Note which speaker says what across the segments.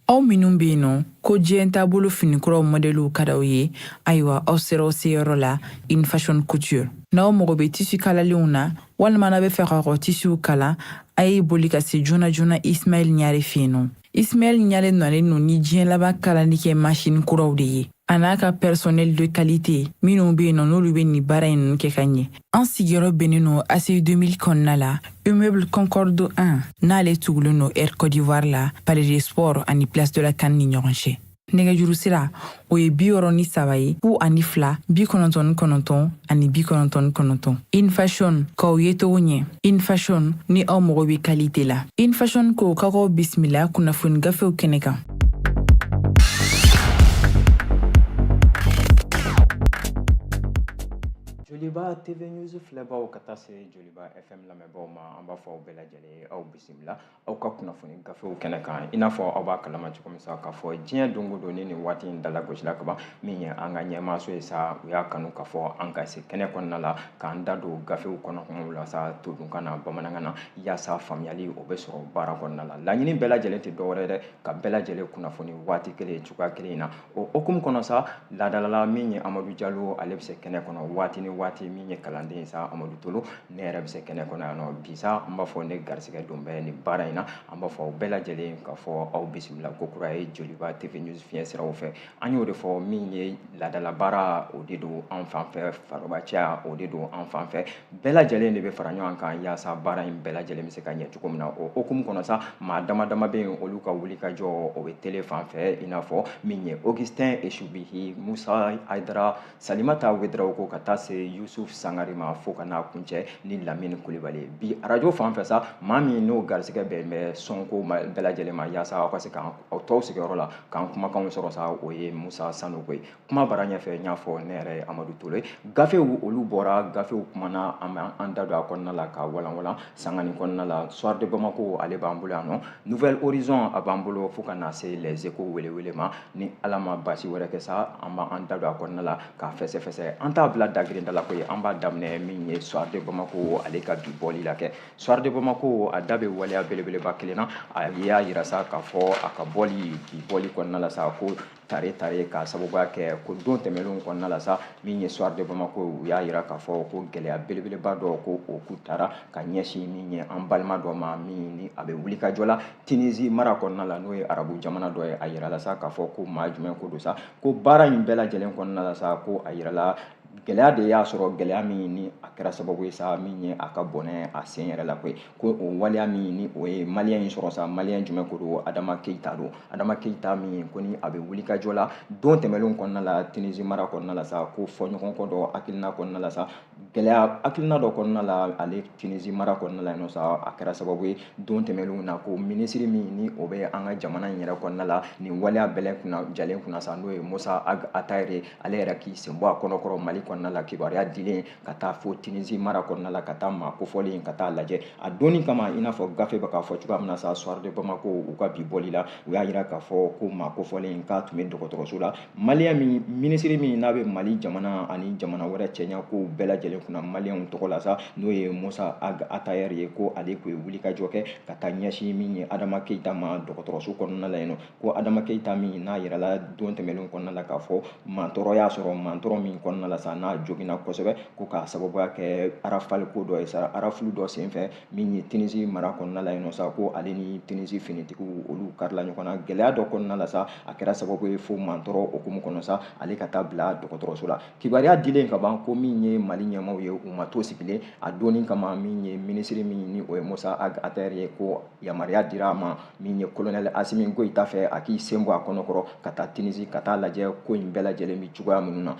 Speaker 1: aw minnu bɛ yen nɔ ko diɲɛ taabolo finikuraw mɔdɛliw ka d'aw ye ayiwa aw sera aw seyɔrɔ la in fashion couture n'aw mago bɛ tisi kalalenw na walima n'aw b'a fɛ k'aw ka tisiw kalan a ye boli ka se joona joona ismail ɲare fɛ yen nɔ Ismail Ɲare nalen no ni diɲɛ laban kalanni kɛ masini kuraw de ye a n'a ka personnel de qualité minnu be yen nɔ n'olu be nin baara in nunu kɛ ka ɲɛ an sigiyɔrɔ bɛnnen no ACI 2000 kɔnɔna la immeuble concorde 1 n'ale tugulen no air côte d'ivoire la palais des sports ani place de la CAN ni ɲɔgɔn cɛ nɛgɛjuru sira o ye bi wɔɔrɔ ni saba ye fu ani fila bi kɔnɔntɔn ni kɔnɔntɔn ani bi kɔnɔntɔn ni kɔnɔntɔn in fashion k'aw yecogo ɲɛ in fashion ni aw mago bɛ qualité la in fashion ko ka k'aw bisimila kunnafoni gafew kɛnɛ
Speaker 2: kan joliba tv news filɛbaaw ka taa se joliba fm lamɛnbaaw ma an b'a fɔ aw bɛɛ lajɛlen aw bisimila aw ka kunnafoni gafew kɛnɛ kan i n'a fɔ aw b'a kalama cogo min sa k'a fɔ diɲɛ don o don ni nin waati in dala gosila kaban min ye an ka ɲɛmaaso ye sa u y'a kanu k'a fɔ an ka se kɛnɛ kɔnɔna la k'an da don gafew kɔnɔ kumaw la sa todunkan na bamanankan na yaasa faamuyali o bɛ sɔrɔ baara kɔnɔna la laɲini bɛɛ lajɛlen tɛ dɔwɛrɛ dɛ ka bɛɛ lajɛlen kunnafoni waati kelen cogoya kelen in na o hukumu kɔnɔ sa laadalala min ye amadu jalo ale bɛ se kɛnɛ kɔnɔ waati ni waati min ye kalanden ye sa amadu tolo ne yɛrɛ bɛ se kɛnɛ kɔnɔ yan nɔ bi sa an b'a fɔ ne garisigɛ don bɛ nin baara in na an b'a fɔ aw bɛɛ lajɛlen k'a fɔ aw bisimila ko kura ye joliba tv news fiɲɛ siraw fɛ an y'o de fɔ min ye laadalabaara o de don an fan fɛ farobacɛya o de don an fan fɛ bɛɛ lajɛlen de bɛ fara ɲɔgɔn kan yaasa baara in bɛɛ lajɛlen bɛ se ka ɲɛ cogo min na o hukumu kɔnɔ sa maa dama dama bɛ yen olu ka wuli ka jɔ o bɛ tele fan fɛ i n'a fɔ min ye augustin esubihi musa hayidara salimata wedarawogo ka taa se yusuf sangare ma fo ka n'a kuncɛ ni lamini kulibali ye bi arajo fan fɛ sa maa min n'o garisigɛ bɛn bɛ sɔnko bɛɛ lajɛlen ma yaasa aw ka se k'aw to aw sigiyɔrɔ la k'an kumakanw sɔrɔ sa o ye musa sanogo ye kuma bara ɲɛfɛ n y'a fɔ ne yɛrɛ ye amadu tolo ye gafew olu bɔra gafew kumana an bɛ an da don a kɔnɔna la k'a walanwalan sanga nin kɔnɔna la soir de bamako ale b'an bolo yan nɔ nouvel horizon a b'an bolo fo ka na se les échos welewele ma ni ala ma baasi wɛrɛ kɛ sa an b'an da don a kɔnɔna la k'a fɛsɛfɛsɛ an t'a bila dagirinda la ko ye an b'a daminɛ min ye soir de bamako ale ka bi bɔli la kɛ soir de bamako a da bɛ waleya belebeleba kelen na a y'a yira sa k'a fɔ a ka bɔli bi bɔli kɔnɔna la sa ko tare tare ka sababuya kɛ ko don tɛmɛnlenw kɔnɔna la sa min ye soir de bamako u y'a yira k'a fɔ ko gɛlɛya belebeleba dɔ ko o ku tara ka ɲɛsin min ye an balima dɔ ma min ni a bɛ wuli ka jɔ la tinizi mara kɔnɔna la n'o ye arabu jamana dɔ ye a yirala sa k'a fɔ ko maa jumɛn ko don sa ko baara in bɛɛ lajɛlen kɔnɔna la sa ko a yirala gɛlɛya de y'a sɔrɔ gɛlɛya min ni a kɛra sababu ye sa min ye a ka bɔnɛ a sen yɛrɛ la koyi ko o waleya min ni o ye maliyɛn in sɔrɔ sa maliyɛn jumɛn ko don adama keyita don adama keyita min ye ko ni a bɛ wulikajɔ la don tɛmɛnlenw kɔnɔna la tunisi mara kɔnɔna la sa ko fɔɲɔgɔnkɔ dɔ hakilina kɔnɔna la sa gɛlɛya hakilina dɔ kɔnɔna la ale tunisi mara kɔnɔna la yen sa a kɛra sababu ye don tɛmɛnlenw na ko minisiri min ni o bɛ an ka jamana in yɛrɛ kɔnɔna la nin waleya bɛɛ lajɛlen kunna sa n'o ye musa atayere ale yɛrɛ k'i sen bɔ a kɔnɔkɔrɔ mali kɔnɔna la kibaruya dilen ka taa fo tunisi mara kɔnɔna la ka taa maa kofɔlen ka taa lajɛ a donni kama i n'a fɔ gafe bɛ k'a fɔ cogoya min na sa soir de bamako u ka bi bɔli la u y'a yira k'a fɔ ko maa kofɔlen k'a tun bɛ dɔgɔtɔrɔso la maliyɛn min minisiri min n'a bɛ mali jamana ani jamana wɛrɛ cɛɲa kow bɛɛ lajɛlen kunna maliyɛnw tɔgɔ la sa n'o ye musa ag atayɛr ye ko ale tun ye wulikajɔ kɛ ka taa ɲɛsin min ye adama keyita ma dɔgɔtɔrɔso kɔnɔna la yen nɔ ko adama keyita min n'a yirala don tɛmɛnlenw kɔnɔna la k'a fɔ mantɔrɔ y'a sɔrɔ mantɔrɔ min kɔnɔna la sa n'a joginna kosɛbɛ ko k'a sababuya kɛ arafali ko dɔ ye sa arafulu dɔ senfɛ min ye tinisi mara kɔnɔna la yen nɔ sa ko ale ni tinisi finitigiw olu karila ɲɔgɔn na gɛlɛya dɔ kɔnɔna la sa a kɛra sababu ye fo mantɔrɔ hukumu kɔnɔ sa ale ka taa bila dɔgɔtɔrɔso la kibaruya dilen kaban ko min ye mali ɲɛmaaw ye u ma to sigilen a donni kama min ye minisiri min ni o ye musa ag atayɛr ye ko yamaruya dira a ma min ye kolonɛli asimi goyita fɛ a k'i sen bɔ a kɔnɔkɔrɔ ka taa tinisi ka taa lajɛ ko in bɛɛ lajɛlen bɛ cogoya minnu na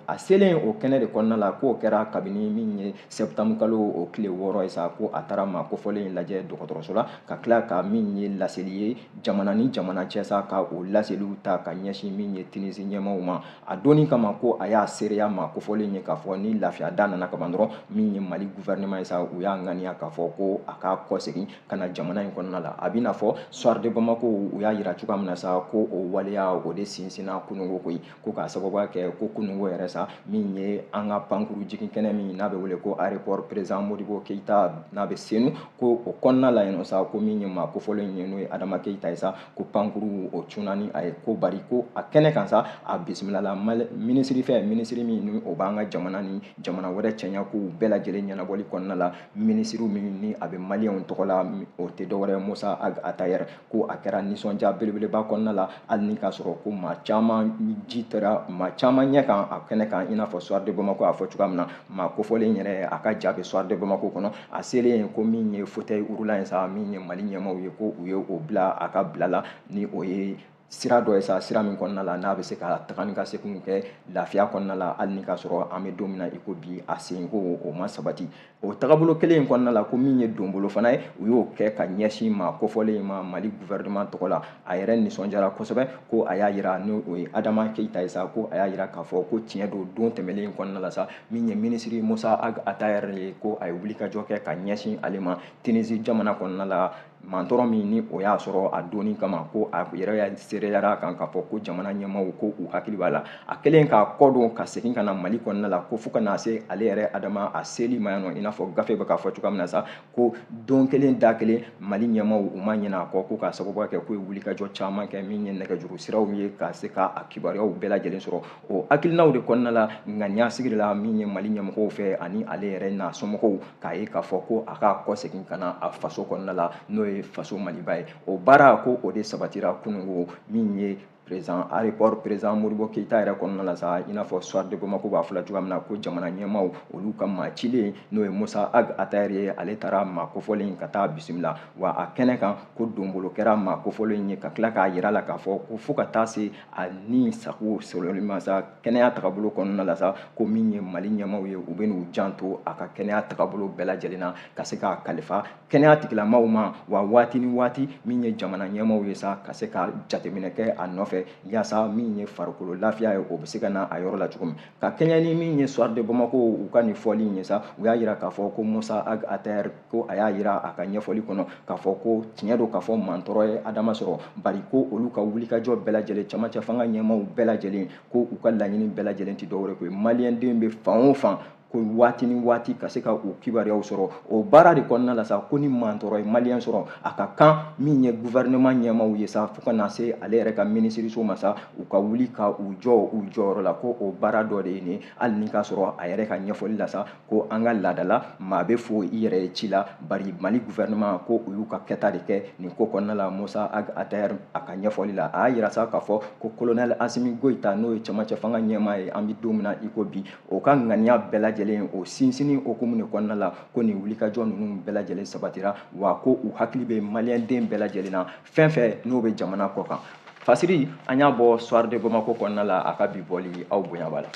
Speaker 2: a selen o kɛnɛ de kɔnɔna la k'o kɛra kabini min ye septembre kalo o tile wɔɔrɔ ye sa ko a taara maa kofɔlen in lajɛ dɔgɔtɔrɔso la ka tila ka min ye laseli ye jamana ni jamana cɛ sa ka o laseliw ta ka ɲɛsin min ye tinisi ɲɛmaaw ma a doni kama ko a y'a seereya maa kofɔlen ye k'a fɔ ni lafiya da nana kaban dɔrɔn min ye mali gouvernement ye sa u y'a ŋaniya k'a fɔ ko a ka kɔsegin ka na jamana in kɔnɔna la a b'i n'a fɔ soir de bamako u y'a yira cogoya min na sa ko o waleya o de sinsinna kunungo koyi ko k'a sababuya kɛ ko kunungo yɛrɛ sa min ye an ka pankuru jigin kɛnɛ min n'a bɛ wele ko aéroport président modibo keyita n'a bɛ senu ko o kɔnɔna la yen nɔ sa ko min ye maa kofɔlen ye n'o ye adama keyita ye sa ko pankuru o cunna ni a ye ko bari ko a kɛnɛ kan sa a bisimilala minisiri fɛ minisiri min ni o b'an ka jamana ni jamana wɛrɛ cɛɲa kow bɛɛ lajɛlen ɲɛnabɔli kɔnɔna la minisiri min ni a bɛ maliyɛnw tɔgɔ la o tɛ dɔwɛrɛ musa ag atayɛr ko a kɛra nisɔndiya belebeleba kɔnɔna la hali ni k'a sɔrɔ ko maa caman ji tɛra maa caman ɲɛ kan a kɛnɛ kan i n'a fɔ soir de bamako a fɔ cogoya min na maa kofɔlen yɛrɛ a ka ja bɛ soir de bamako kɔnɔ a selen yen ko min ye fauteuil roulant ye sa min ye mali ɲɛmaaw ye ko u ye o bila a ka bila la ni o ye sira dɔ ye sa sira min kɔnɔna la n'a bɛ se ka taga ni ka seginw kɛ lafiya kɔnɔna la hali ni k'a sɔrɔ an bɛ don min na i ko bi a senko o ma sabati o tagabolo kelen in kɔnɔna la ko min ye donbolo fana ye u y'o kɛ ka ɲɛsin maa kofɔlen in ma mali gouvernement tɔgɔ la a yɛrɛ nisɔndiyara kosɛbɛ ko a y'a yira ni o ye adama keyita ye sa ko a y'a yira k'a fɔ ko tiɲɛ don don tɛmɛlen in kɔnɔna la sa min ye minisiri musa ag atayɛri ye ko a ye wulikajɔ kɛ ka ɲɛsin ale ma tinisi jamana kɔnɔna la mantɔrɔ min ni o y'a sɔrɔ a doni kama ko a yɛrɛ seereyara kan k'a fɔ ko jamana ɲɛmaaw ko u hakili b'a la a kɛlen k'a kɔ don ka segin ka na mali kɔnɔna la ko fo ka na se ale yɛrɛ adama a seli ma yan nɔ i n'a fɔ gafe bɛ k'a fɔ cogoya min na sa ko don kelen da kelen mali ɲɛmaaw u ma ɲina a kɔ ko k'a sababuya kɛ k'u ye wulikajɔ caman kɛ min ye nɛgɛjuru siraw ye ka se ka a kibaruyaw bɛɛ lajɛlen sɔrɔ o hakilinaw de kɔnɔna la ŋaniya siri la min ye mali ɲɛmɔgɔw fɛ ani ale yɛrɛ n'a somɔgɔw k'a ye k'a fɔ ko a k'a kɔ segin ka na a faso kɔnɔna la n'o ye faso maliba ye o baara ko o de sabatira kunungo min ye président aéroport président modibo keyita yɛrɛ kɔnɔna la sa i n'a fɔ soir de bamako b'a fɔla cogoya min na ko jamana ɲɛmaaw olu ka maa cilen n'o ye musa ag atayɛri ye ale taara maa kofɔlen ka taa bisimila wa a kɛnɛ kan ko donbolo kɛra maa kofɔlen ye ka tila k'a yira la k'a fɔ ko fo ka taa se a ni sago sɔrɔli ma sa kɛnɛya tagabolo kɔnɔna la sa ko min ye mali ɲɛmaaw ye u bɛ n'u janto a ka kɛnɛya tagabolo bɛɛ lajɛlen na ka se k'a kalifa kɛnɛya tigilamaaw ma wa waati ni waati min ye jamana ɲɛmaaw ye sa ka se ka jateminɛ kɛ a nɔfɛ yaasa min ye farikolo lafiya ye o bɛ se ka na a yɔrɔ la cogo min ka kɛɲɛ ni min ye soir de bamako u ka nin fɔli in ye sa u y'a yira k'a fɔ ko musa ag atayɛri ko a y'a yira a ka ɲɛfɔli kɔnɔ k'a fɔ ko tiɲɛ don k'a fɔ mantɔrɔ ye adama sɔrɔ bari ko olu ka wulikajɔ bɛɛ lajɛlen camancɛ fanga ɲɛmaaw bɛɛ lajɛlen ko u ka laɲini bɛɛ lajɛlen tɛ dɔwɛrɛ ko ye maliyɛnden bɛ fan o fan ko waati ni waati ka se ka u kibaruyaw sɔrɔ o baara de kɔnɔna la sa ko ni mantɔrɔ ye maliyɛn sɔrɔ a ka kan min ye gouvernement ɲɛmaaw ye sa fo ka na se ale yɛrɛ ka minisiriso ma sa u ka wuli ka u jɔ u jɔyɔrɔ la ko o baara dɔ de ye nin hali ni k'a sɔrɔ a yɛrɛ ka ɲɛfɔli la sa ko an ka laada la maa bɛ fo i yɛrɛ ye ci la bari mali gouvernement ko u y'u ka kɛta de kɛ nin ko kɔnɔna la musa ag atayɛri a ka ɲɛfɔli la a y'a yira sa k'a fɔ ko kolonɛli asimi goyita n'o ye camancɛ fanga ɲɛmaa ye an bɛ don min na i ko bi o ka ŋaniya bɛɛ lajɛlen o sinsinni hukumu de kɔnɔna la ko nin wulikajɔ ninnu bɛɛ lajɛlen sabatira wa ko u hakili bɛ maliyɛnden bɛɛ lajɛlen na fɛn fɛn n'o bɛ jamana kɔ kan fasiri an y'a bɔ soir de bamako kɔnɔna la a ka bi bɔli aw bonya b'a la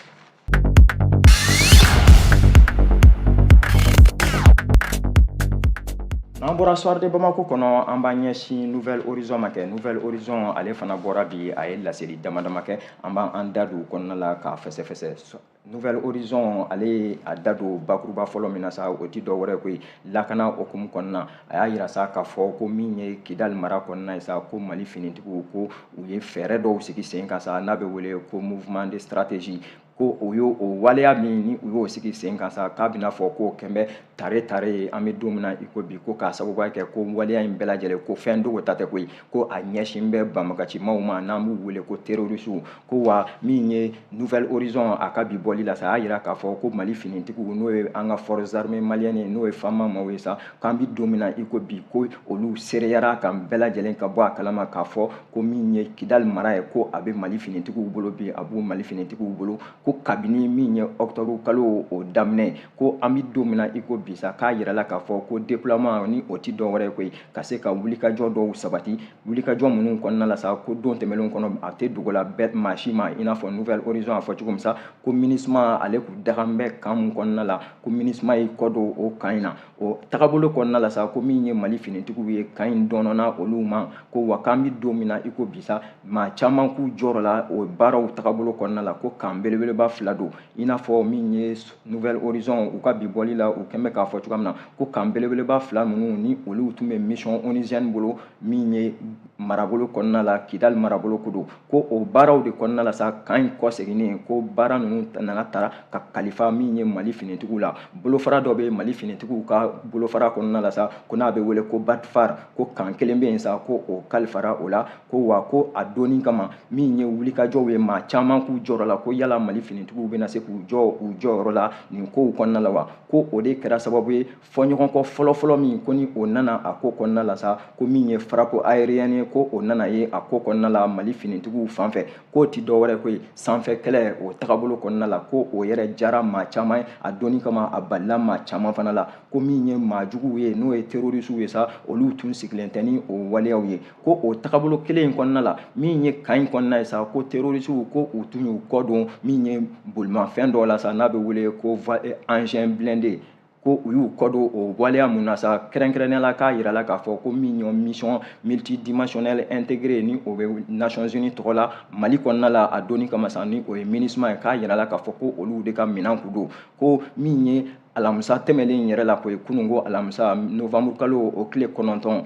Speaker 2: n'an bɔra soir de bamako kɔnɔ an b'an ɲɛsin nouvel horizon ma kɛ nouvel horizon ale fana bɔra bi a ye laseli dama dama kɛ an b'an da don kɔnɔna la k'a fɛsɛfɛsɛ nouvel horizon ale ye a da don bakuruba fɔlɔ min na sa o ti dɔwɛrɛ koyi lakana hukumu kɔnɔna a y'a yira sa k'a fɔ ko min ye kidali mara kɔnɔna ye sa ko mali finitigiw ko u ye fɛɛrɛ dɔw sigi sen kan sa n'a bɛ wele ko mouvement de stratégie ko o y'o o waleya min ni u y'o sigi sen kan sa k'a bɛna fɔ k'o kɛn bɛ tare tare ye an bɛ don min na i ko bi ko k'a sababuya kɛ ko waleya in bɛɛ lajɛlen ko fɛn dogo ta tɛ koyi ko a ɲɛsin bɛ banbagacimaw ma n'an b'u wele ko terorisiw ko wa min ye nouvel horizon a ka bi bɔli la sa a y'a jira k'a fɔ ko mali finitigiw n'o ye an ka forces armées maliennes n'o ye fama maaw ye sa k'an bɛ don min na i ko bi ko olu seereyara ka bɛɛ lajɛlen ka bɔ a kalama k'a fɔ ko min ye kidali mara ye ko a bɛ mali finitigiw bolo bi a bɛ mali finitigiw bolo ko kabini min ye octobre kalo o daminɛ ko an bɛ don min na i ko bi sa k'a yira la k'a fɔ ko déploiement ni o tɛ dɔwɛrɛ ye koyi ka se ka wulikajɔ dɔw sabati wulikajɔ minnu kɔnɔna la sa ko don tɛmɛnenw kɔnɔ a tɛ dogo la bɛɛ maa si ma i n'a fɔ nouvel horizon a fɔ cogo min sa ko minusma ale kun dagan bɛ kan min kɔnɔna la ko minusma y'i kɔ don o kan in na o tagabolo kɔnɔna la sa ko min ye mali finitigiw ye kan in donna olu ma ko wa k'an bɛ don min na i ko bi sa maa caman kun jɔrɔla o baaraw tagabolo kɔnɔna la ko kan belebeleba fila don i n'a fɔ min ye nouvel horizon u ka bi bɔli la u kɛn bɛ k'a fɔ cogoya min na ko kan belebeleba fila ninnu ni olu tun bɛ mission onusienne bolo min ye marabolo kɔnɔna la kidali marabolo ko don ko o baaraw de kɔnɔna la sa kan in kɔseginni ko baara ninnu nana tara ka kalifa min ye mali finitigiw la bolofara dɔ bɛ mali finitigiw ka bolofara kɔnɔna la sa ko n'a bɛ wele ko batfar ko kan kelen bɛ yen sa ko o kalifara o la ko wa ko a dɔnni kama min ye wulikajɔw ye maa caman kun jɔrɔla ko yala mali finitigiw bɛna se k'u jɔ u jɔyɔrɔ la nin kow kɔnɔna la wa ko o de kɛra sababu ye fɔɲɔgɔnkɔ fɔlɔfɔlɔ min ko ni o nana a ko kɔnɔna la sa ko min ye frappe aérienne ye ko o nana ye a ko kɔnɔna la mali finitigiw fan fɛ k'o ti dɔwɛrɛ ko ye sanfɛ kɛlɛ o tagabolo kɔnɔna la ko o yɛrɛ jara maa caman ye a dɔnni kama a balila maa caman fana la ko min ye maa juguw ye n'o ye terorisiw ye sa olu tun sigilen tɛ ni o waleyaw ye ko o tagabolo kelen in kɔnɔna la min ye kan in kɔnɔna ye sa ko terorisiw ko u tun y'u kɔ don min ye bolimafɛn dɔ la sa n'a bɛ wele ko engin eh, blindé ko u y'u kɔ don o waleya min na sa kɛrɛnkɛrɛnnenya la k'a yira la k'a fɔ ko min ye mission multidimensionnelle intégrée ni o bɛ nations unies tɔgɔ la mali kɔnɔna la a dɔnni kama sa ni o ye minusma ye k'a yira la k'a fɔ ko olu de ka minɛn kun don ko min ye alamisa tɛmɛnen yɛrɛ la k'o ye kunun ko alamisa novembre kalo o tile kɔnɔntɔn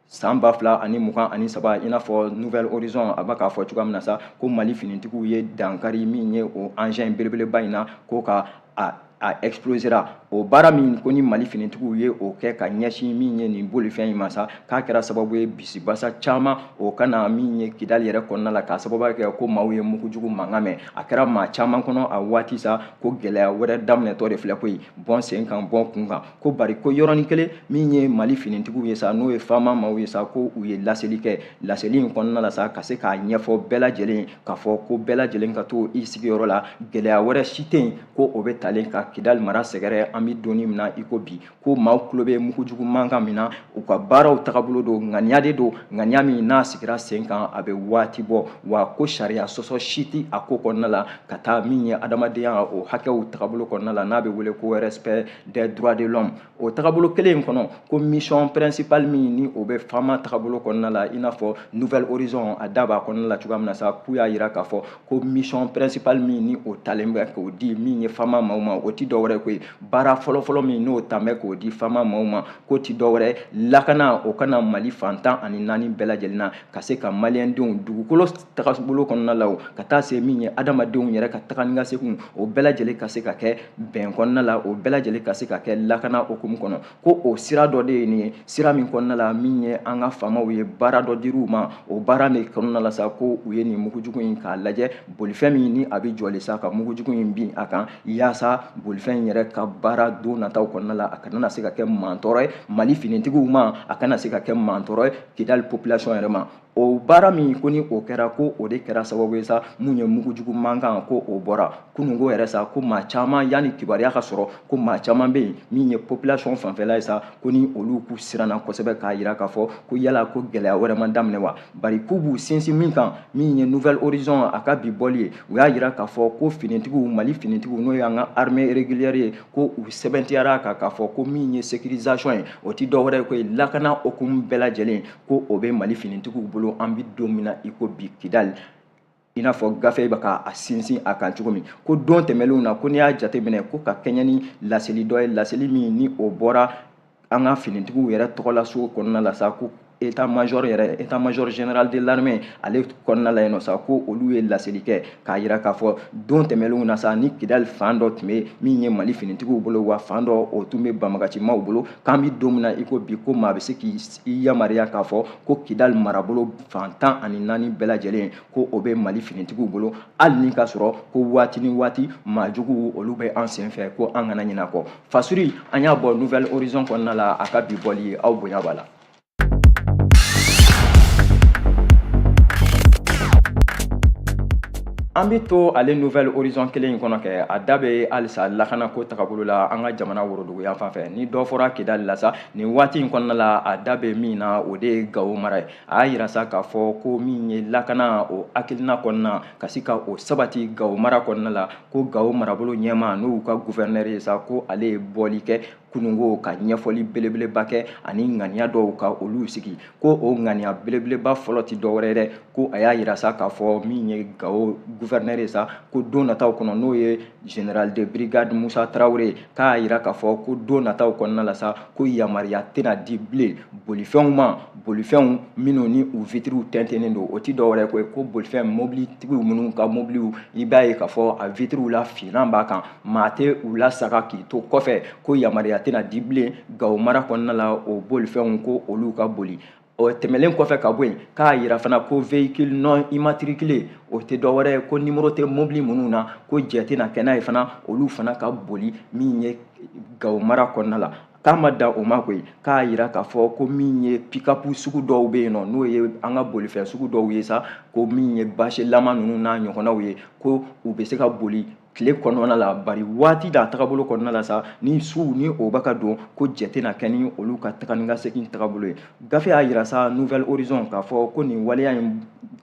Speaker 2: san ba fila ani mugan ani saba i n'a fɔ nouvelle horizon a bɛ k'a fɔ cogoya min na sa ko mali finitigiw ye dankari min ye o engin belebeleba in na ko ka a a explosera o baara min ko ni mali finitigiw ye o kɛ ka ɲɛsin min ye nin bolifɛn in ma sa k'a kɛra sababu ye bisibasa caman o ka na min ye kidali yɛrɛ kɔnɔna la k'a sababuya kɛ ko maaw ye mugujugu mankan mɛn a kɛra maa caman kɔnɔ a waati sa ko gɛlɛya wɛrɛ daminɛtɔ de filɛ koyi bɔ n sen kan bɔ n kun kan ko bari ko yɔrɔnin kelen min ye mali finitigiw ye sa n'o ye fama maaw ye sa ko u ye laseli kɛ laseli in kɔnɔna la sa ka se k'a ɲɛfɔ bɛɛ lajɛlen k'a fɔ ko bɛɛ lajɛlen ka to i sigiyɔrɔ la gɛlɛya wɛrɛ si tɛ yen ko o bɛ talen ka kidali mara sɛgɛrɛ an bɛ don min na i ko bi ko maaw tulo bɛ mugujugu mankan min na u ka baaraw tagabolo don ŋaniya de don ŋaniya min n'a sigira sen kan a bɛ waati bɔ wa ko sariya sɔsɔ si tɛ a ko kɔnɔna la ka taa min ye adamadenya o hakɛw tagabolo kɔnɔna la n'a bɛ wele ko respect des droits de l'homme o tagabolo kelen in kɔnɔ ko mission principale min ni o bɛ fama tagabolo kɔnɔna la i n'a fɔ nouvelle horizon a da b'a kɔnɔna la cogoya min na sa k'u y'a jira k'a fɔ ko mission principale min ni o talen bɛ k'o di min ye fama maaw ma o ti dɔwɛrɛ ko ye baara fɔlɔfɔlɔ min n'o talen bɛ k'o di fama maaw ma k'o ti dɔwɛrɛ lakana o ka na mali fan tan ani naani bɛɛ lajɛlen na ka se ka maliyɛndenw dugukolo tagabolo kɔnɔna la o ka taa se min ye adamadenw yɛrɛ ka taga ni ka seginw o bɛɛ lajɛlen ka se ka kɛ bɛn kɔnɔna la o bɛɛ lajɛlen ka se ka kɛ lakana hukumu kɔnɔ ko o sira dɔ de ye nin ye sira min kɔnɔna la min ye an ka faamaw ye baara dɔ dir'u ma o baara de kɔnɔna la sa ko u ye nin mugujugu in k'a lajɛ bolifɛn min ni a bɛ jɔlen sa ka mugujugu in bin a kan yaasa bolifɛn yɛrɛ ka baara don nataw kɔnɔna la a kana se ka kɛ mantɔɔrɔ ye mali finitigiw ma a kana se ka kɛ mantɔɔrɔ ye kidali population yɛrɛ ma o baara min ko ni o kɛra ko o de kɛra sababu ye sa min ye mugujugu mankan ko o bɔra kununko yɛrɛ sa ko maa caman yanni kibaruya ka sɔrɔ ko maa caman bɛ yen min ye population fanfɛla ye sa ko ni olu k'u siranna kosɛbɛ k'a jira k'a fɔ ko yala ko gɛlɛya wɛrɛ ma daminɛ wa bari k'u b'u sinsin min kan min ye nouvelle horizon a ka bi bɔli ye u y'a jira k'a fɔ ko finitigiw mali finitigiw n'o y'an ka armée régulière ye ko u sɛbɛntiyara kan k'a fɔ ko min ye sécurisation ye o tɛ dɔwɛrɛ ye ko ye lakana hukumu bɛɛ lajɛlen ko o bɛ mali finitigiw bolo an bɛ don min na i ko bi kidali i n'a fɔ gafe bɛ ka a sinsin a kan cogo min ko don tɛmɛnlenw na ko n'i y'a jateminɛ ko ka kɛɲɛ ni laseli dɔ ye laseli min ni o bɔra an ka finitigiw yɛrɛ tɔgɔ la so kɔnɔna la sa ko état major yɛrɛ état major général de l'armée ale kɔnɔna la yen nɔ sa ko olu ye laseli kɛ k'a yira k'a fɔ don tɛmɛnlenw na sa ni kidali fan dɔ tun bɛ min ye mali finitigiw bolo wa fan dɔ o tun bɛ banbagacimaw bolo k'an bɛ don min na i ko bi ko maa bɛ se k'i yamaruya k'a fɔ ko kidali marabolo fan tan ani naani bɛɛ lajɛlen ko o bɛ mali finitigiw bolo hali ni ka sɔrɔ ko waati ni waati maajuguw olu bɛ an sen fɛ ko an kana ɲinɛ kɔ fasuri an y'a bɔ nouvel horizon kɔnɔna la a ka bi bɔli aw bonya b'a la an bɛ to ale nouvel horizon kelen in kɔnɔ kɛ a da bɛ halisa lakanako tagabolo la an ka jamana woroduguyan fan fɛ ni dɔ fɔra kidali la sa nin waati in kɔnɔna la a da bɛ min na o de ye gawo mara ye a y'a yira sa k'a fɔ ko min ye lakana o hakilina kɔnɔna ka se ka o sabati gawo mara kɔnɔna la ko gawo marabolo ɲɛmaa n'u ka gouverneur ye sa ko ale ye bɔli kɛ kununko ka ɲɛfɔli belebeleba kɛ ani ŋaniya dɔw ka olu sigi ko o ŋaniya belebeleba fɔlɔ ti dɔwɛrɛ dɛ ko a y'a yira sa k'a fɔ min ye gawo gouverneur ye sa ko don nataw kɔnɔ n'o ye général de brigade musa tarawele k'a yira k'a fɔ ko don nataw kɔnɔna la sa ko yamaruya tɛna di bilen bolifɛnw ma bolifɛnw minnu ni u vitiriw tɛntɛnnen don o ti dɔwɛrɛ koyi ko bolifɛn mobilitigiw minnu ka mobiliw i b'a ye k'a fɔ a vitiriw lafinnan b'a kan maa tɛ u lasaga k'i to kɔfɛ ko yamaruya tɛna di bilen gawo mara kɔnɔna la o bolifɛnw ko olu ka boli o tɛmɛlen kɔfɛ ka bɔ yen k'a yira fana ko véhicule non immatriculé o tɛ dɔ wɛrɛ ye ko nimoro tɛ mobili minnu na ko jɛ tɛna kɛ n'a ye fana olu fana ka boli min ye gawo mara kɔnɔna la k'a ma dan o ma koyi k'a yira k'a fɔ ko min ye pikapu sugu dɔw bɛ yen nɔ n'o ye an ka bolifɛn sugu dɔw ye sa ko min ye basilama ninnu n'a ɲɔgɔnnaw ye ko u bɛ se ka boli tile kɔnɔna la bari waati d'a tagabolo kɔnɔna la sa ni su ni o bɛ ka don ko jɛ tɛna kɛ ni olu ka taga ni ka segin tagabolo ye gafe y'a yira sa nouvel horizon k'a fɔ ko nin waleya in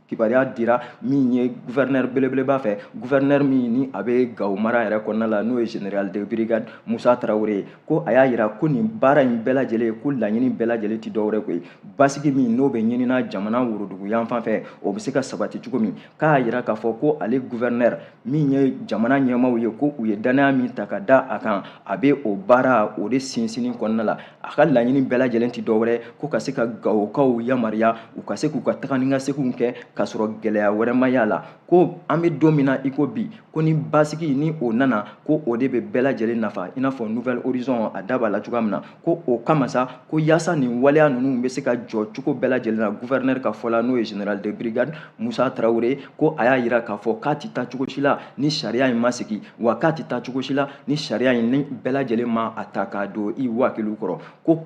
Speaker 2: kibaruya dira min ye gouverneur belebeleba fɛ gouverneur min ni a bɛ gawo mara yɛrɛ kɔnɔna la n'o ye général de brigade musa tarawele ye ko a y'a yira ko nin baara in bɛɛ lajɛlen ko laɲini bɛɛ lajɛlen ti dɔwɛrɛ koyi basigi min n'o bɛ ɲinina jamana worodugu yanfan fɛ o bɛ se ka sabati cogo min k'a yira k'a fɔ ko ale gouverneur min ye jamana ɲɛmaaw ye ko u ye dannaya min ta ka da a kan a bɛ o baara o de sinsinni kɔnɔna la a ka laɲini bɛɛ lajɛlen ti dɔwɛrɛ ko ka se ka gawokaw yamaruya u ka se k'u ka taga ni ka seginw kɛ k'a sɔrɔ gɛlɛya wɛrɛ ma y'a la ko an bɛ don min na i ko bi ko ni basigi ni o nana ko o de bɛ bɛɛ lajɛlen nafa i n'a fɔ nouvel horizon a da b'a la cogoya min na ko o kama sa ko yaasa nin waleya ninnu bɛ se ka jɔ cogo bɛɛ lajɛlen na gouverneur ka fɔ la n'o ye général de brigade musa tarawele ko a y'a yira k'a fɔ k'a ti taa cogo si la ni sariya in ma sigi wa k'a ti taa cogo si la ni sariya in ni bɛɛ lajɛlen ma a ta k'a don i wakiliw kɔrɔ ko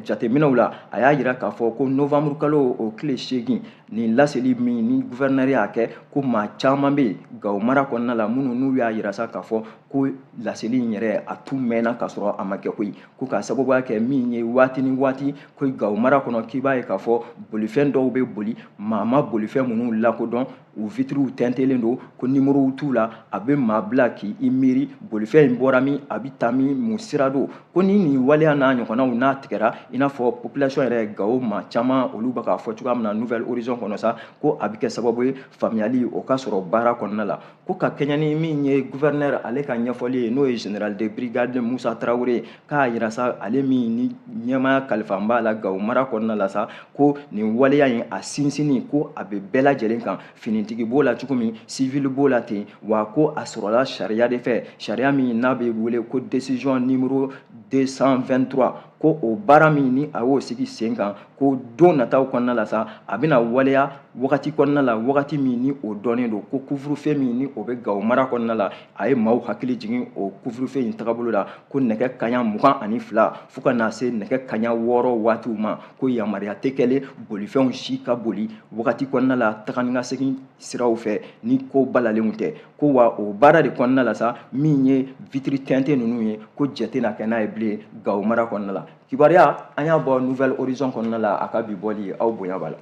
Speaker 2: jateminɛw la a y'a yira k'a fɔ ko novembre kalo o tile seegin nin laseli min ni gouverneur y'a kɛ ko maa caman bɛ yen gawo mara kɔnɔna la minnu n'u y'a yira sa k'a fɔ ko laseli in yɛrɛ a tun mɛnna k'a sɔrɔ a ma kɛ koyi ko k'a sababuya kɛ min ye waati ni waati ko gawo mara kɔnɔ k'i b'a ye k'a fɔ bolifɛn dɔw bɛ boli maa ma bolifɛn minnu lakodɔn u vitiriw tɛntɛlen don ko nimorow t'u la a bɛ maa bila k'i miiri bolifɛn in bɔra min a bɛ taa min mun sira don ko ni nin waleya n'a ɲɔgɔnnaw n'a tigɛra i n'a fɔ population yɛrɛ gawo maa caman olu bɛ k'a fɔ cogoya min na nouvelle horizon kɔnɔ sa ko a bɛ kɛ sababu ye faamuyali o ka sɔrɔ baara kɔnɔna la ko ka kɛɲɛ ni min ye gouverneur ale ka ɲɛfɔli ye n'o ye général de brigade musa tarawele k'a yira sa ale min ni ɲɛmaaya kalifan b'a la gawo mara kɔnɔna la sa ko nin waleya in a sinsinni ko a bɛ bɛɛ lajɛlen kan finitigi b'o la cogo min sivili b'o la ten wa ko a sɔrɔla sariya de fɛ sariya min n'a bɛ wele ko décision numéro 223 ko o baara min ni a y'o sigi sen kan ko don nataw kɔnɔna la sa a bɛna waleya wagati kɔnɔna la wagati min ni o dɔnnen don ko couvre-feu min ni o bɛ gawo mara kɔnɔna la a ye maaw hakili jigin o couvre-feu in tagabolo la ko nɛgɛ kaɲa mugan ani fila fo ka na se nɛgɛ kaɲa wɔɔrɔ waatiw ma ko yamaruya tɛ kɛlen bolifɛnw si ka boli wagati kɔnɔna la taga ni ka segin siraw fɛ ni ko balalenw tɛ ko wa o baara de kɔnɔna la sa min ye vitiri tɛntɛn ninnu ye ko jɛn tɛna kɛ n'a ye bilen gawo mara kɔnɔna la kibaruya an y'a bɔ nouvelle horizon kɔnɔna la a ka bi bɔli aw bonya b'a la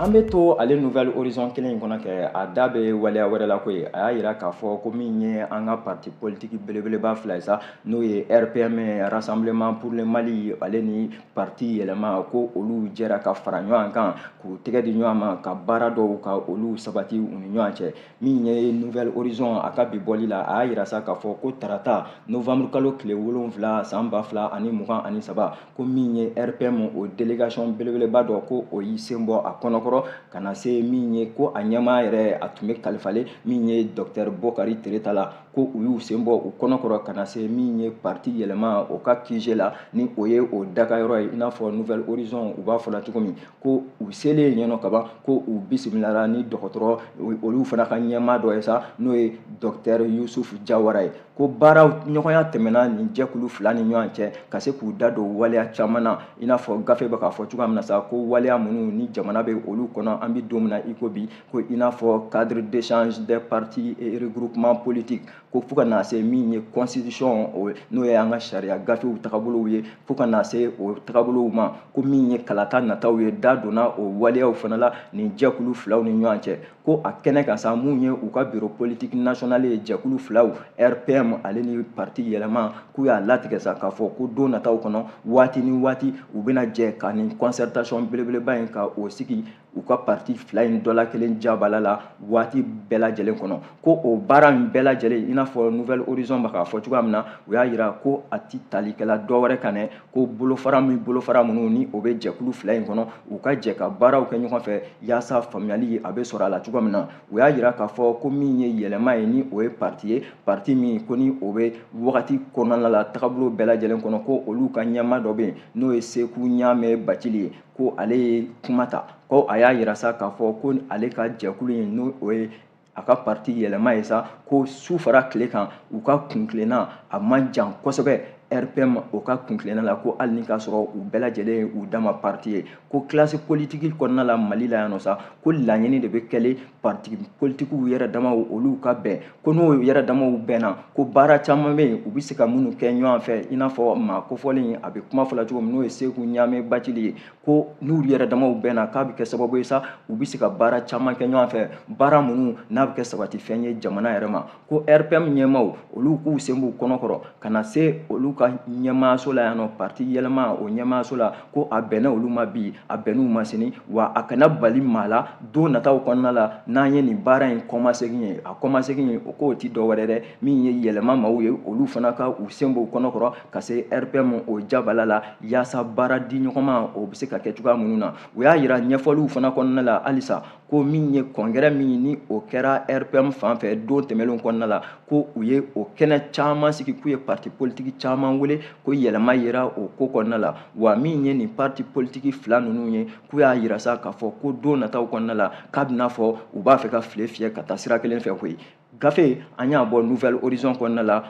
Speaker 2: an bɛ to ale nouvelle horizon kelen in kɔnɔ kɛ a da bɛ waleya wɛrɛ la koyi a y'a yira k'a fɔ ko min ye an ka parti politique belebeleba fila ye sa n'o ye rpm rassemblement pour le mali ale ni parti yɛlɛma ko olu jɛra ka fara ɲɔgɔn kan k'u tɛgɛ di ɲɔgɔn ma ka baara dɔw ka olu sabati u ni ɲɔgɔn cɛ min ye nouvelle horizon a ka bi bɔli la a y'a yira sa k'a fɔ ko tarata novembre kalo tile wolonwula san ba fila ani mugan ani saba ko min ye rpm o délégation belebeleba dɔ ko o y'i sen bɔ a kɔnɔkɔrɔ ka na se min ye ko a ɲɛmaa yɛrɛ a tun bɛ kalifalen min ye docteur bokari tereta la ko u y'u sen bɔ u kɔnɔkɔrɔ ka na se min ye parti yɛlɛma o ka qg la ni o ye o dagayɔrɔ ye i n'a fɔ nouvelle horizon u b'a fɔ la cogo min ko u selen yen nɔ kaban ko u bisimilara ni dɔgɔtɔrɔ olu fana ka ɲɛmaa dɔ ye sa n'o ye docteur yusuf jawara ye ko baara ɲɔgɔnya tɛmɛna nin jɛkulu fila ni ɲɔgɔn cɛ ka se k'u da don waleya caman na i n'a fɔ gafe bɛ k'a fɔ cogoya min na sa ko waleya minnu ni jamana bɛ olu kɔnɔ an bɛ don min na i ko bi ko i n'a fɔ cadre d'échange des partis et regroupements politiques ko fo ka na se min ye constitution n'o ye an ka sariya gafew tagabolow ye fo ka na se o tagabolow ma ko min ye kalata nataw ye da donna o waleyaw fana la nin jɛkulu filaw ni ɲɔgɔn cɛ ko a kɛnɛ kan sa min ye u ka bureau politique national ye jɛkulu filaw rpm ale ni parti yɛlɛma k'u y'a latigɛ sa k'a fɔ ko don nataw kɔnɔ waati ni waati u bɛna jɛ ka nin concertation belebeleba in ka o sigi u ka parti fila in dɔ la kelen jabala la waati bɛɛ lajɛlen kɔnɔ ko o baara min bɛɛ lajɛlen i n'a fɔ nouvelle horizon bɛ k'a fɔ cogoya min na u y'a yira ko a ti talikɛla dɔ wɛrɛ kan dɛ ko bolofara min bolofara minnu ni o bɛ jɛkulu fila in kɔnɔ u ka jɛ ka baaraw kɛ ɲɔgɔn fɛ yaasa faamuyali a bɛ sɔrɔ a la cogoya min na u y'a yira k'a fɔ ko min ye yɛlɛma ye ni o ye parti ye parti min ko ni o bɛ wagati kɔnɔna la tagabolo bɛɛ lajɛlen kɔnɔ ko olu ka ɲɛmaa dɔ bɛ yen n'o ye seku ɲamɛ bacili ye ko ale ye kuma ta ko a y'a yira sa k'a fɔ ko ale ka jɛkulu in n'o ye a ka parti yɛlɛma ye sa ko su fara tile kan u ka kuntilenna a man jan kosɛbɛ rpm o ka kuntilenna la ko hali ni k'a sɔrɔ u bɛɛ lajɛlen ye u dama parti ye ko kilasi politiki kɔnɔna la mali la yan nɔ sa ko laɲini de bɛ kɛlen parti politikiw yɛrɛ damaw olu ka bɛn ko n'o yɛrɛ damaw bɛnna ko baara caman bɛ yen u bɛ se ka minnu kɛ ɲɔgɔn fɛ i n'a fɔ maa kofɔlen a bɛ kuma fɔla cogo min n'o ye seku ɲamɛ bacili ye ko n'u yɛrɛ damaw bɛnna k'a bɛ kɛ sababu ye sa u bɛ se ka baara caman kɛ ɲɔgɔn fɛ baara minnu n'a bɛ kɛ sabatifɛn ye jamana yɛrɛ ma ko rpm ɲɛmaaw olu k'u sen b'u kɔnɔkɔrɔ ka na se olu ka ɲɛmaaso la yan nɔ parti yɛlɛma o ɲɛmaaso la ko a bɛnna olu ma bi a bɛnna u ma sini wa a kana bali maa la don nataw kɔnɔna la n'an ye nin baara in kɔmasegin ye a kɔmasegin ye o k'o ti dɔwɛrɛ dɛ min ye yɛlɛma maaw ye olu fana ka u sen b'u kɔnɔkɔrɔ ka se rpm o jabala la yaasa baara di ɲɔgɔn ma o bɛ se ka kɛ cogoya minnu na u y'a yira ɲɛfɔliw fana kɔnɔna la halisa ko min ye kɔngɛrɛ min ni o kɛra rpm fan fɛ don tɛmɛnlenw kɔnɔna la ko u ye o kɛnɛ caman sigi k'u ye parti politiki caman wele ko yɛlɛma yera o ko kɔnɔna la wa min ye nin parti politiki fila ninnu ye k'u y'a yira sa k'a fɔ ko don nataw kɔnɔna la k'a b'i n'a fɔ u b'a fɛ ka file fiyɛ ka taa sira kelen fɛ koyi gafe an y'a bɔ nouvelle horizon kɔnɔna la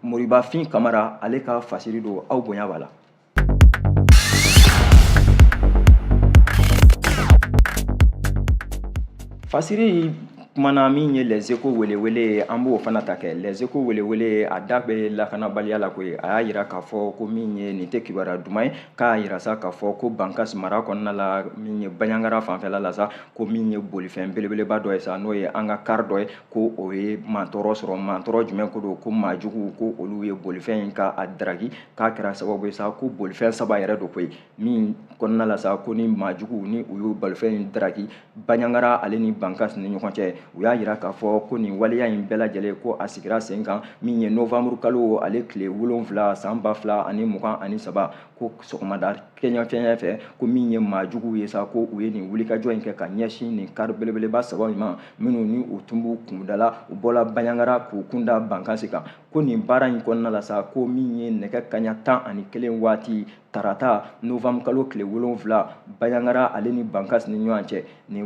Speaker 2: moribafin kamara ale ka fasiri don aw bonya b'a la fasiri kumana min ye les échos welewele ye an b'o fana ta kɛ les échos welewele a da bɛ lakanabaliya la koyi a y'a yira k'a fɔ ko min ye nin tɛ kibaruya duman ye k'a yira sa k'a fɔ ko bankas mara kɔnɔna la min ye baɲangara fanfɛla la sa ko min ye bolifɛn belebeleba dɔ ye sa n'o ye an ka kari dɔ ye ko o ye mantɔɔrɔ sɔrɔ mantɔɔrɔ jumɛn ko don ko maajuguw ko olu ye bolifɛn in ka a daraki k'a kɛra sababu ye sa ko bolifɛn saba yɛrɛ don koyi min kɔnɔna la sa ko ni maajugu ni u y'o bolifɛn in daraki baɲangara ale ni bankas ni ɲɔgɔn cɛ u y'a yira k'a fɔ ko nin waleya in bɛɛ lajɛlen ko a sigira sen kan min ye novanburu kalo ale tile wolonfila san ba fila ani mugan ani saba ko sɔgɔmada kɛɲɛfɛɲɛ fɛ ko min ye maajuguw ye sa ko u ye nin wulikajɔ in kɛ ka ɲɛsin nin kari belebeleba saba in ma minnu ni u tun b'u kundala u bɔla baɲangara k'u kunda bankasi kan ko nin baara in kɔnɔna la sa ko min ye nɛgɛ kaɲa tan ani kelen waati tarata novambre kalo tile wolonfila baɲagara ale ni bankas ni ɲɔgɔn cɛ nin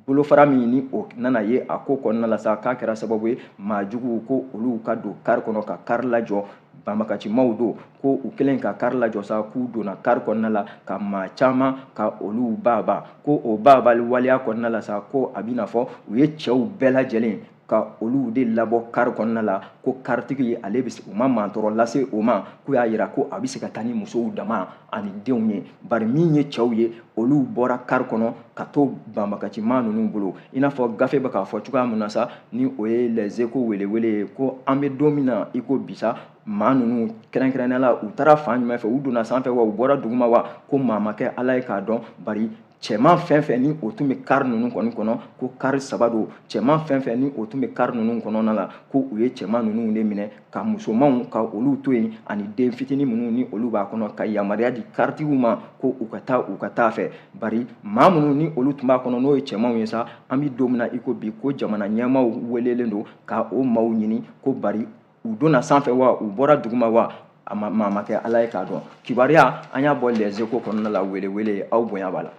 Speaker 2: bolofara min ni o nana ye a ko kɔnɔna la sa k'a kɛra sababu ye maa juguw ko olu ka don kari kɔnɔ ka kari lajɔ banbagacimaw don ko u kɛlen ka kari lajɔ sa k'u donna kari kɔnɔna la ka maa caman ka olu baabaa ko o baabaali waleya kɔnɔna la sa ko a bɛ n'a fɔ u ye cɛw bɛɛ lajɛlen ka olu de labɔ kari kɔnɔna la ko karitigi ale bɛ u ma mantɔrɔ lase o ma k'u y'a yira ko a bɛ se ka taa ni musow dama ani denw ye bari min ye cɛw ye olu bɔra kari kɔnɔ ka to banbagaciman ninnu bolo i n'a fɔ gafe bɛ k'a fɔ cogoya min na sa ni o ye les échos welewele ye ko an bɛ don min na i ko bi sa maa ninnu kɛrɛnkɛrɛnnenya la u taara fan jumɛn fɛ u donna sanfɛ wa u bɔra duguma wa ko maa ma kɛ ala ye k'a dɔn bari cɛman fɛn fɛn ni o tun bɛ kari ninnu kɔni kɔnɔ ko kari saba don cɛman fɛn fɛn ni o tun bɛ kari ninnu kɔnɔna la ko u ye cɛman ninnu de minɛ ka musomanw ka olu to yen ani den fitinin minnu ni olu b'a kɔnɔ ka yamaruya di karitigiw ma ko u ka taa u ka taa fɛ bari maa minnu ni olu tun b'a kɔnɔ n'o ye cɛmanw ye sa an bɛ don min na i ko bi ko jamana ɲɛmaaw welelen don ka o maaw ɲini ko bari u donna sanfɛ wa u bɔra duguma wa a maa ma kɛ ala ye k'a dɔn kibaruya an y'a bɔ les échos kɔnɔna la welewele aw bonya b'a la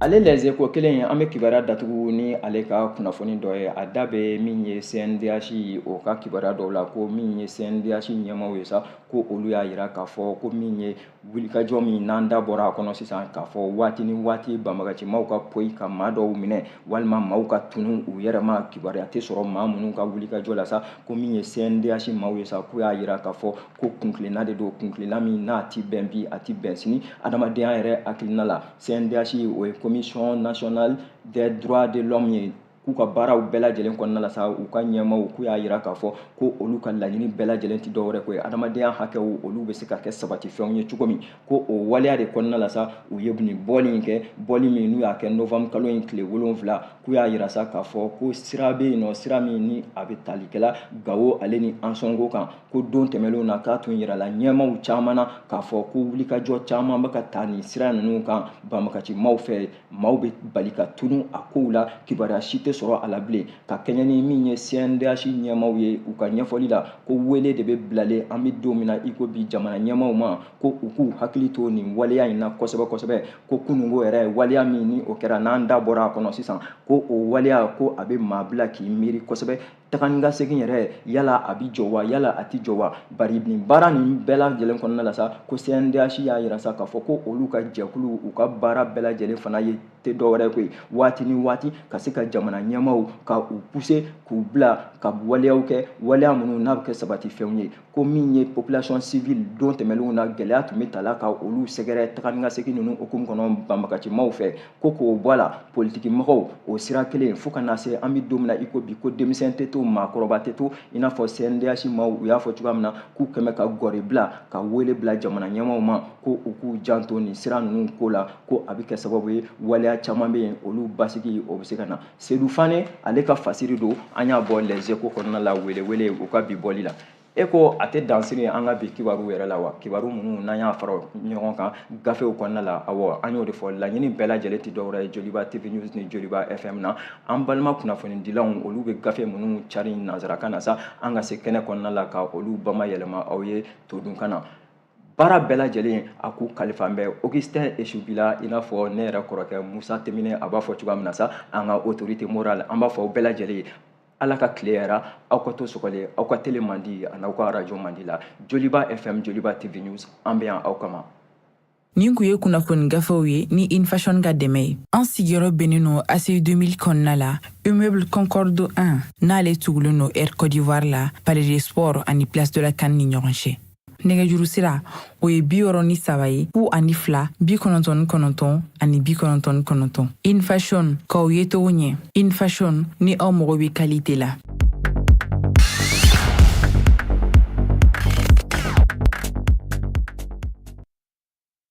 Speaker 2: ale les échos kelen ye an bɛ kibaruya datugu ni ale ka kunnafoni dɔ ye a da bɛ min ye cndh o ka kibaruya dɔw la ko min ye cndh ɲɛmaaw ye sa ko olu y'a yira k'a fɔ ko min ye wulikajɔ min n'an da bɔra a kɔnɔ sisan k'a fɔ waati ni waati banbagacimaw ka poyi ka maa dɔw minɛ walima maaw ka tunu u yɛrɛ ma kibaruya tɛ sɔrɔ maa minnu ka wulikajɔ la sa ko min ye cndh maaw ye sa k'u y'a yira k'a fɔ ko kuntilenna de don kuntilenna min n'a ti bɛn bi a ti bɛn sini adamadenya yɛrɛ hakilina la cndh o ye commission nationale des droits de l'homme ye k'u ka baaraw bɛɛ lajɛlen kɔnɔna la sa u ka ɲɛmaaw k'u y'a yira k'a fɔ ko olu ka laɲini bɛɛ lajɛlen tɛ dɔwɛrɛ ko ye adamadenya hakɛw olu bɛ se ka kɛ sabatifɛnw ye cogo min ko o waleya de kɔnɔna la sa u ye nin bɔli in kɛ bɔli min n'u y'a kɛ novambre kalo in tile wolonwula k'u y'a yira sa k'a fɔ ko sira bɛ yen nɔ sira min ni a bɛ talikɛla gawo ale ni ansongo kan ko don tɛmɛnlenw na k'a tun yirala ɲɛmaaw caman na k'a fɔ ko wulikajɔ caman bɛ ka ta nin sira ninnu kan banbagacimaw fɛ maaw bɛ bali ka tunu a kow la kibaruya si tɛ sɔrɔ a la bilen ka kɛɲɛ ni min ye cndh ɲɛmaaw ye u ka ɲɛfɔli la ko wele de bɛ bilalen an bɛ don min na i ko bi jamana ɲɛmaaw ma ko u k'u hakili to nin waleya in na kosɛbɛ kosɛbɛ ko kununko yɛrɛ waleya min ni o kɛra n'an da bɔra a kɔnɔ sisan ko o waleya ko a bɛ maa bila k'i miiri kosɛbɛ tagani ka segin yɛrɛ yala a bɛ jɔ wa yala a tɛ jɔ wa bari nin baara nin bɛɛ lajɛlen kɔnɔna la sa ko cndh y'a jira sa k'a fɔ ko olu ka jɛkulu u ka baara bɛɛ lajɛlen fana ye tɛ dɔwɛrɛ ko ye waati ni waati ka se ka jamana ɲɛmaaw ka u pousser k'u bila ka waleyaw kɛ waleya minnu n'a bɛ kɛ sabatifɛnw ye ko min ye population civile don tɛmɛnlenw na gɛlɛya tun bɛ taa la ka olu sɛgɛrɛ tagani ka segin ninnu hukumu kɔnɔ banbagacimaw fɛ ko k'o bɔ a la politikimɔgɔw o sira kelen fo ka na se an bɛ don min na i ko bi ko denmisɛn tɛ to maakɔrɔba tɛ to i n'a fɔ CNDH maaw u y'a fɔ cogoya min na k'u kɛmɛ ka gɔri bila ka wele bila jamana ɲɛmaaw ma ko u k'u janto nin sira ninnu ko la ko a bɛ kɛ sababu ye waleya caman bɛ yen olu basigi o bɛ se ka na sedu fane ale ka fasiri don an y'a bɔ les échos kɔnɔna la welewele u ka bi bɔli la e ko a tɛ dansiri an ka bi kibaru yɛrɛ la wa kibaru minnu n'an y'a fara ɲɔgɔn kan gafew kɔnɔna la awɔ an y'o de fɔ laɲini bɛɛ lajɛlen tɛ dɔwɛrɛ ye joliba tv news ni joliba fm na an balima kunnafonidilanw olu bɛ gafe minnu cari nansarakan na sa an ka se kɛnɛ kɔnɔna la ka olu bamayɛlɛma aw ye todunkan na baara bɛɛ lajɛlen a k'u kalifa an bɛ augustin esu bila i n'a fɔ ne yɛrɛ kɔrɔkɛ musa timbine a b'a fɔ cogoya min na sa an ka autorité morale an b'a fɔ aw bɛɛ lajɛlen ye ala ka tile hɛɛrɛ aw ka to sɔgɔlen aw ka tele mandi ani aw ka arajo mandi la joliba fm joliba tv news an bɛ yan aw kama nin
Speaker 1: kun ye kunnafoni gafew ye ni infashon ka dɛmɛ ye an sigiyɔrɔ bɛnnen don aci 2000 kɔnɔna la immeuble concorde 1 n'ale tugulen don air côte d'ivoire la palais des sports ani place de la can ni ɲɔgɔn cɛ nɛgɛjuru sira o ye bi wɔɔrɔ ni saba ye fu ani fila bi kɔnɔntɔn ni kɔnɔntɔn ani bi kɔnɔntɔn ni kɔnɔntɔn infashon k'aw ye togo ɲɛ infashon ni aw mago bɛ qualité la